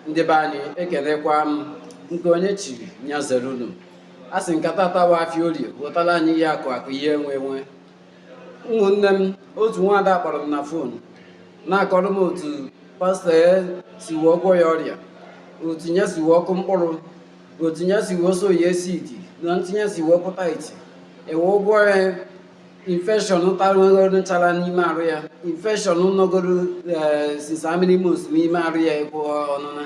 ndị be anyị ekenekwa m nke onye chiri ya zere unu a sị nkata atawa afịa orie gotara anyị ihe akụ akụ ihe enwe enwe ụmụnne m otu nwaada kpọrọ m na fon na-akọrọ m otu pastọ ya si wee agwọ ya ọrịa otu ya si wee akụ mkpụrụ otu ya si wee sow ya seed na etu nya si wee akwụ tithe e wee agwọ ya infection tarụgoro nchara n'ime arụ ya infection nọgoro eh, since how many months n'ime arụ ya ịkwụ ọnụna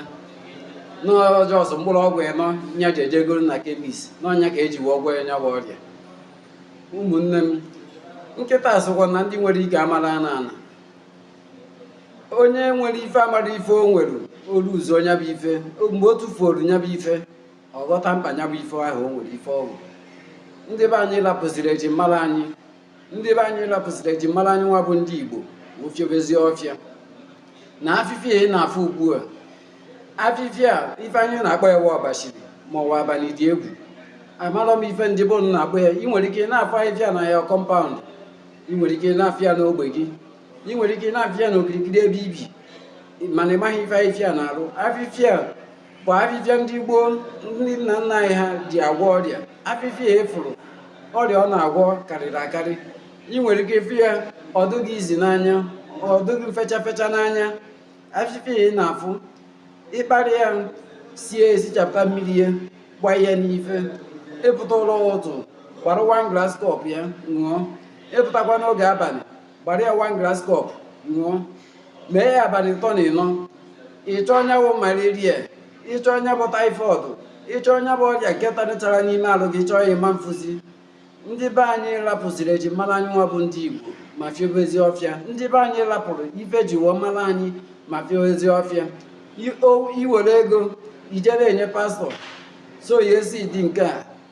na ọ just mkpụrụ ọgwụ ịnọ nya ji ejegoro na kemis na ọ nya ka e ji wee gwọọ nya bụ ọrịa ụmụnne m nkịta sịkwa na ndị nwere ike amarọ anọ ana onye nwere ife amarọ ife o nwere o luzuo nya bụ ife mgbe o tufuoro nya bụ ife ọ ghọta mkpa ya bụ ife ahụ o nwere ife ọ bụ ndị be anyị lapụziri eji mara anyị ndị be anyị lapụziri eji mara anyị nwa bụ ndị igbo fiobezie ọfịa na afịfịa ị na-afụ ugbu a afịfịa a ife anyị na-akpọ ya bụ ọbachiri ma ọ bụ abalị dị egwu amarọ m ife ndị be unu na-akpọ ya ị nwere ike na-afụ afịfịa a na your kọmpaụnd ị nwere ike na-afụ ya n'ogbe gị ị nwere ike na-afụ ya n'okirikiri ebe i bi mana ị maghị ife afịfịa a na-arụ afịfịa bụ afịfịa ndị gboo ndị nna nna anyị ha ji agwọ ọrịa afịfịa a ị fụrụ ọrịa ọ na-agwọ karịrị akarị ị nwere ike ịfụ ya ọ dị gị easy n'anya ọ dị gị fecha fecha n'anya afịfịa ị na-afụ ị kpara ya sie esichapụta mmiri ya gba ya n'ife ị pụta ụra ụtụtụ gbara wan glas kọp ya ṅụọ ị pụtakwa n'oge abalị gbara ya wan glas kọp ṅụọ mee ya abalị ịtọ na ịnọ ị chọọ nya bụ malaria ị chọọ nya bụ taịfọd ị chọọ nya bụ ọrịa nke talụ nchara n'ime alụ gị ị chọọ ya ị ma-afụzi ndị be anyị rapụziri eji mara anyị nwa bụ ndị igbo ma fiobezi ọfịa ndị be anyị rapụrụ ife e ji wee mara anyị ma fiobezi ọfịa i were ego i jere enye pastọ sow ya seed nke a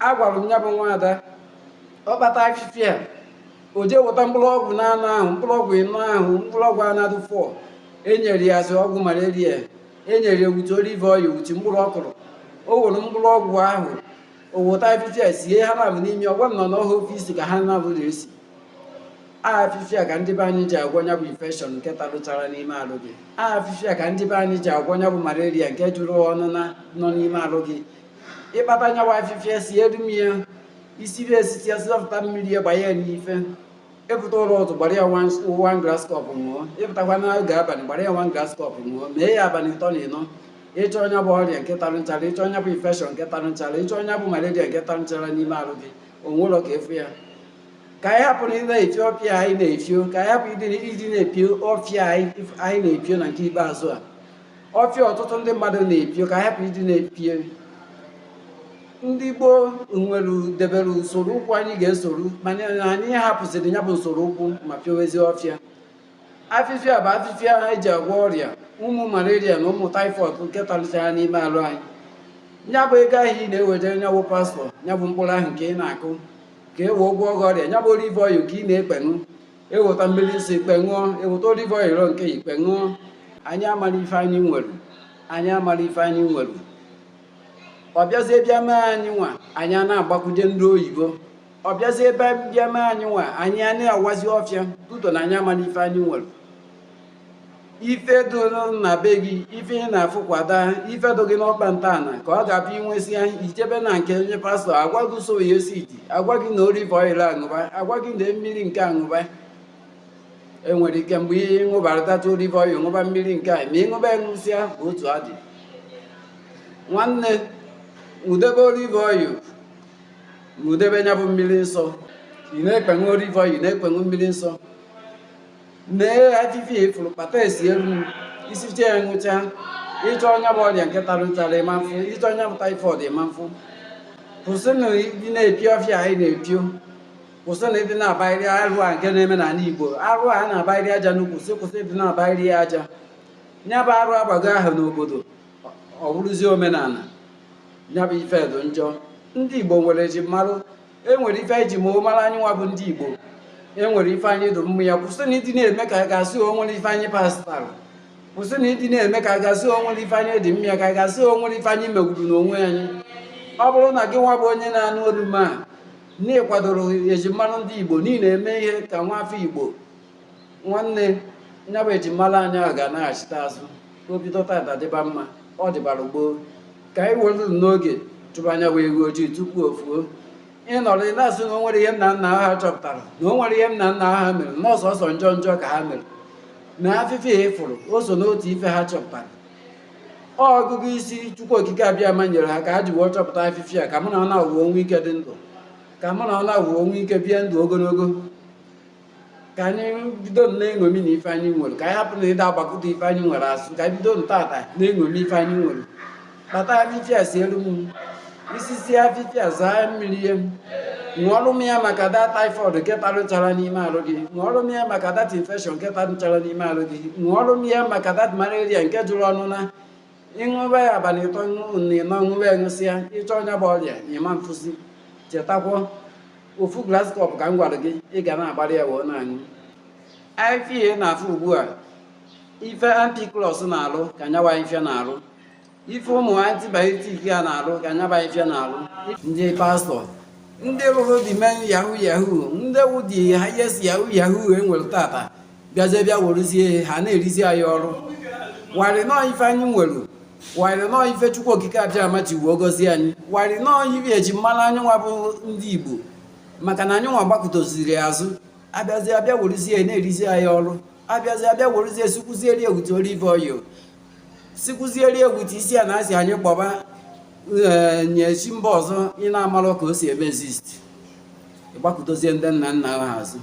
agwara m ya bụ nwaada ọ kpata afịfịa a, o jee weta mkpụrụ ọgwụ naanọ ahụ mkpụrụ ọgwụ ịnọ ahụ mkpụrụ ọgwụ around four e nyere ya as ọgwụ malaria e nyere ya with olive oil with mkpụrụ ọ kụrụ o were mkpụrụ ọgwụ ahụ o weta afịfịa sie ha naabọ n'imi ọ gwa m na ọ bụ ofu isi ka ha naabọ na-esi afịfịa ka ndị be anyị ji agwọ nya bụ infekshọn nke talụ nchara n'ime alụ gị afịfịa ka ndị be anyị ji agwọ nya bụ malaria nke jụrụ ụna nọ n'ime alụ gị ị kpata nya bụ afịfịa si edu m ya isi ri esiti asịlọpụta mmiri ya gbanye ya n'ife ị pụta ụra ụtụtụ gbara ya wan glas kọp ṅụọ ị pụtakwa n'oge abalị gbara ya wan glas kọp ṅụọ mee ya abalị ịtọ na ịnọ ị chọọ nya bụ ọrịa nke tarụ nchara ị chọọ nya bụ infekshọn nke tarụ nchara ị chọọ nya bụ malaria nke tarụ nchara n'ime arụ gị o nwerọ ka ị fụ ya ka anyị hapụ ịdị na-efio ọfịa anyị na-efio ka anyị hapụ ịdị na-epio ọfịa anyị na-epio na nke ikpeazụ a ọfịa ọtụtụ ndị mmadụ na-epio ka hapụ ịdị na-epie ndị gboo nwere debere usoro ụkwụ anyị ga-esoro mana anyị hapụsịrị ya bụ usoro ụkwụ ma pịowezi ọfịa afịfịa bụ afịfịa ha eji agwọ ọrịa ụmụ malaria na ụmụ taifọd nke talichara n'ime arụ anyị ya bụ ego ahụ ị na-eweje nyabụ pastọ nyabụ mkpụrụ ahụ nke ị na-akụ ka e wee gwọọ gị ọrịa nyabụ olive oil nke ị na-ekpeṅụ e weta mmiri nsọ i kpee ṅụọ e weta olive oil nke i kpee ṅụọ anyị amara ife anyị nwere anyị amara ife anyị nwere ọ bịazie bịa mee anyị nwa anyị a na-agbakwuje ndị oyibo ọ bịazie bịa mee anyị nwa anyị a na-awazi ọfịa tuto na anyị amara ife anyị nwere ife dị na be gị ife ị na-afụkwada ife dị gị n'ọkpa ntọala ka ọ ga-abụ i nwesị ya i chebe na nke onye pastọ agwa gị usoro ya esi iti agwa gị na olive oil aṅụba agwa gị na mmiri nke aṅụba e nwere ike mgbe ihe ị ṅụbarị tata olive oil ṅụba mmiri nke a ma ị ṅụba ṅụsịa otu ọ dị nwanne i debe olive oil ma i debe ya bụ mmiri nsọ ị na-ekpeṅụ olive oil ị na-ekpeṅụ mmiri nsọ lee afịfịa ị fụrụ kpata sielu i sichaa ya ṅụcha ị chọọ nya bụ ọrịa nke tara ụtara ị ma afụ ị chọọ nya bụ taifọd ị ma afụ kwụsịnụ ịdị na-epi ọfịa anyị na-epio kwụsịnụ ịdị na-abairi arụ a nke na-eme n'ala igbo arụ a na-abairi aja n'ukwu si kwụsị ịdị na-abairi ya aja ya bụ arụ gbaa ahọ n'obodo ọ bụrụzie omenala ya bụ ife dị njọ ndị igbo nwere ejimara e nwere ife a na-eji amara anyị nwa bụ ndị Igbo e nwere ife anyị dụ mma ya kwụsịnụ ịdị na-eme ka a ga-asị o nwere ife anyị pasịtara kwụsịnụ ịdị na-eme ka a ga-asị o nwere ife anyị dị mma ya ka a ga-asị o nwere ife anyị megwuru n'onwe anyị ọ bụrụ na gị nwa bụ onye na-anụ olu m a na ị kwadoro ejimara ndị Igbo niile eme ihe ka nwa afọ Igbo nwanne nya bụ ejimala anyị a ga-anaghachite azụ o bido tata dịba mma ọ dịbara gboo ka anyị were n'oge chụba nya bụ ewu ojii tupu o fuo ị nọrọ ị na-asị na o nwere ihe nna nna ha chọpụtara na o nwere ihe nna nna ha mere na ọ sọsọ njọ njọ ka ha mere na afịfịa ị fụrụ o so n'otu ife ha chọpụtara ọ ọgụgụ isi chukwu okike abiama nyere ha ka ha ji wee chọpụta afịfịa ka mụ na ụnụ wee nwee ike dị ndụ ka mụ na ụnụ wee nwee ike bie ndụ ogologo ka anyị bido na-eṅomi na ife anyị nwere ka anyị hapụnụ ịdị na-agbakụta ife anyị nwere azụ ka anyị bido ntata na-eṅomi ife anyị nwere kpata afịfịa sielu m i sisie afịfịa zaa mmiri ya m ṅụọrụ m ya maka dat typhoid nke tarụchara n'ime arụ gị ṅụọrụ m ya maka dat infection nke tarụchara n'ime arụ gị ṅụọrụ m ya maka dat malaria nke jụrụ ọnụ na ịṅụba ya abalị ịtọ na ịnọ ṅụba ya ṅụsịa ị chọọ nya bụ ọrịa ị ma afụzi chetakwa ofu glass cup ka m gwara gị ị ga na-agbara ya wee na-aṅụ ife ị na-afụ ugbu a ife ampiclox na-alụ ka nya nwa ife a na-alụ ife ụmụ antibiotic a na-alụ ka nya nwa ife a na-alụ ndị pastọ ndị bụrụ the main yahoo yahoo ndị wụ the highest yahoo yahoo e nwere taa taa bịazie bịa werezie ihe ha na-erizi anyị ọrụ while na ọ ife anyị nwere while na ọ ife chukwu okike abiama ji wee gọzie anyị while na ọ ife e ji malụ anyị nwa bụ ndị igbo maka na anyị nwa gbakụtaziri azụ abịazi abịa werezie na-erizi anyị ọrụ abịazi abịa werezie sikwuzieri egwute olive oil sikwuzieri egwute isi a na-asị anyị kpọba eh, nye chi mba ọzọ ị na-amarọ ka o si eme exist ị gbakụtazie ndị nna nna ha azụ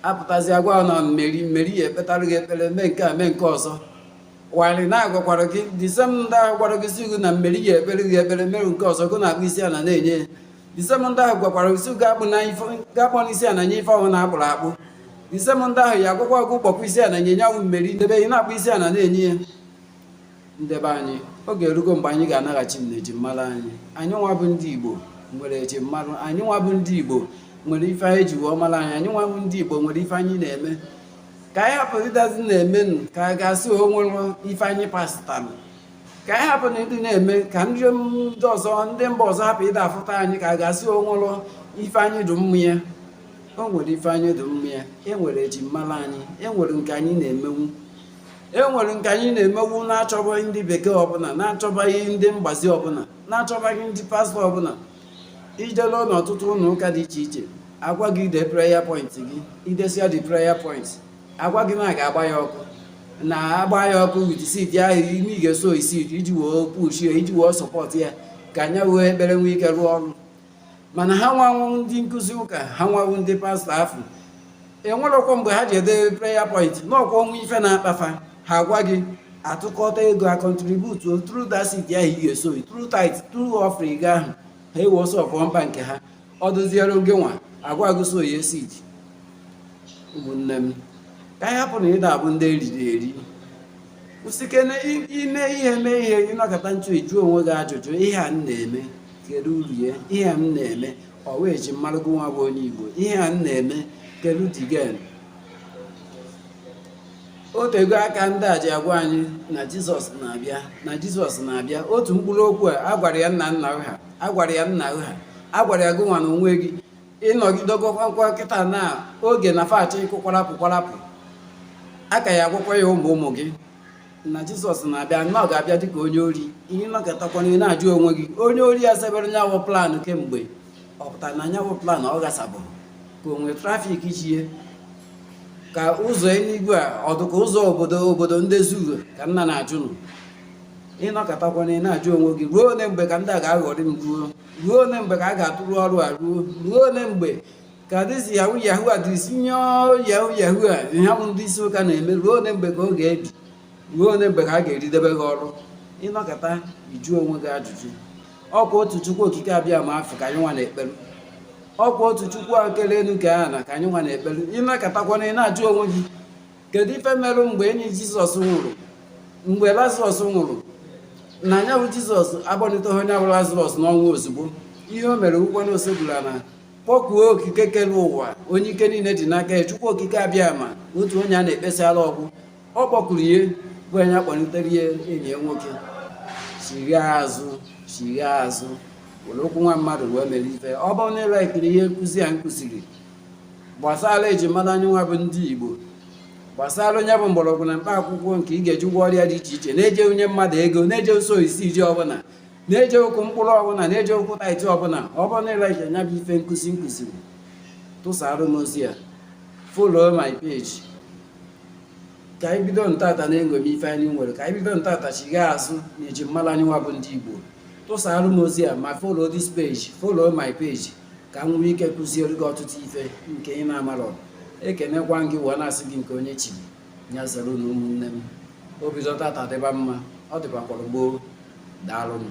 apụtazi agwa na meri meri ya ekpetara gị ekpere mee nke a mee nke ọzọ while na agwakwara gị the same ndị ahụ gwara gị sị gị na meri ya ekpere gị ekpere mere nke ọzọ gị na-akpọ isi ala na-enye the same ndị ahụ gwakwara gị sị gị akpọna isi ala nye ife ọbụna a kpụrụ akpụ the same ndị ahụ ya agwakwa gị kpọkwa isi ala nye nyanwụ meri n'ebe ị na-akpọ isi ala na-enye ya ndị be anyị oge erugo mgbe anyị ga-anaghachi na ejimara anyị anyị nwa bụ ndị igbo nwere ejimara anyị nwa bụ ndị igbo nwere ife anyị ji wee mara anyị anyị nwa bụ ndị igbo nwere ife anyị na-eme ka anyị hapụ ịdazi na-eme nụ ka a ga-asị o nwerọ ife anyị pasịtalụ ka anyị hapụ na ịdị na-eme ka ndị ndị ọzọ ndị mba ọzọ hapụ ịda afụta anyị ka a ga-asị o nwerọ ife anyị dị mma ya o nwere ife anyị dị mma ya e nwere ejimara anyị e nwere nke anyị na-emenwu e nwere nke anyị na-emenwu na-achọbaghị ndị bekee ọbụla na-achọbaghị ndị mgbazi ọbụla na-achọbaghị ndị pastọ ọbụla i jee n'ọtụtụ ụlọ ụka dị iche iche agwa gị ide prayer point gị idesia the prayer point agwa gị na a ga-agba ya ọkụ na agba ya ọkụ with seed ahụ ime ị ga-esow seed iji wee pushie iji wee support ya ka nya wụ ekpere nwee ike rụọ ọrụ mana ha nwanwụ ndị nkụzi ụka ha nwanwụ ndị pastọ afụ enwerọkwa mgbe ha ji ede prayer point ọkwa o nwee ife na-akpa fa ha gwa gị a tụkọta ego a contribute through that seed ahụ ị ga-esow through tithe through offering gị ahụ ha ewee solve problem nke ha ọ dụziere gị nwa agwa gị sow your seed ụmụnne m ka anyị hapụ na ịda abụ ndị e riri eri usike na i- ime ihe mee ihe gị nọkata ntu ị jụọ onwe gị ajụjụ ihe a m na-eme kedu uru ya ihe a m na-eme ọ wụ eji mara gị nwa bụ onye igbo ihe a m na-eme kedu the gain o tego aka ndị a ji agwa anyị na jizọs na-abịa na jizọs na-abịa otu mkpụrụ okwu a agwara ya nna nna ha agwara ya nna ha agwara ya gị nwa na onwe gị ịnọgidegokwa nkịta na oge na fati ịkụ kwarapụ kwarapụ a ka ya agwụkwa ya ụmụ ụmụ gị na jizọs na-abịa na ọ ga-abịa dịka onye ori ị nọkatakwana ị na-ajụ onwe gị onye ori a sebere nya wụ plan kemgbe ọ pụtara na nya wụ plan ọ gasabụrụ ka o nwee traffic chie ka ụzọ eluigwe a ọ dịka ụzọ obodo obodo ndị zuru ka m na-ajụ nụ ị nọkatakwana ị na-ajụ onwe gị ruo ole mgbe ka ndị a ga-aghọrị m ruo ruo ole mgbe ka a ga-atụrụ ọrụ a ruo ruo ole mgbe ka dịzi yahoo yahoo a dịrisi nye yahoo yahoo a ihe bụ ndị isi ụka na-eme ruo ole mgbe ka ọ ga-ebi ruo ole mgbe ka a ga-eridebe gị ọrụ ị nọkata ị jụọ onwe gị ajụjụ ọkwa otu chukwu okike abịama afụ ka anyị nwa na-ekpere ọkwa otu chukwu kele elu kee ana ka anyị nwa na-ekpere ị nọkatakwana ị na-ajụ onwe gị kedu ife merụ mgbe enyi jizọs nwụrụ mgbe lazarọs nwụrụ na nya wụ jizọs akpọniteghị onye bụ lazarọs n'ọnwụ ozugbo ihe o mere ọkwa na o sekpuru ana kpọkuo okike kere ụwa onye ike niile dị n'aka ya chukwu okike abịama otu onye a na-ekpesara ọgwụ ọ kpọkuru ya bụ onye akpọlitere ya enyi ya nwoke chigha azụ chigha azụ were okwu nwa mmadụ wee mere ife ọ bụrụ na ị laikiri ihe nkụzi a m kụziri gbasara eji mara anyị nwa bụ ndị Igbo gbasara nya bụ mgbọrọgwụ na mkpa akwụkwọ nke ị ga-eji gwọ ọrịa dị iche iche na-ejerọ inye mmadụ ego na-ejerọ sow seed ọbụla na-ejerọ ịkụ mkpụrụ ọbụla na-ejerọ ịkwụ tithe ọbụla ọ bụrụ na ị like nya bụ ife nkụzi m kụziri tụsara m ozi ya follow my page ka anyị bido ntata na-eṅomi ife anyị nwere ka anyị bido ntata chigha azụ na eji mara anyị nwa bụ ndị Igbo tụsara m ozi ya ma follow this page follow my page ka m nwee ike kụziere gị ọtụtụ ife nke ị na-amarọ ekenekwa m gị wee na-asị gị nke onye chiri ya zere nụ ụmụnne m o bido tata dịba mma ọ dịbakwara gboo daalụnụ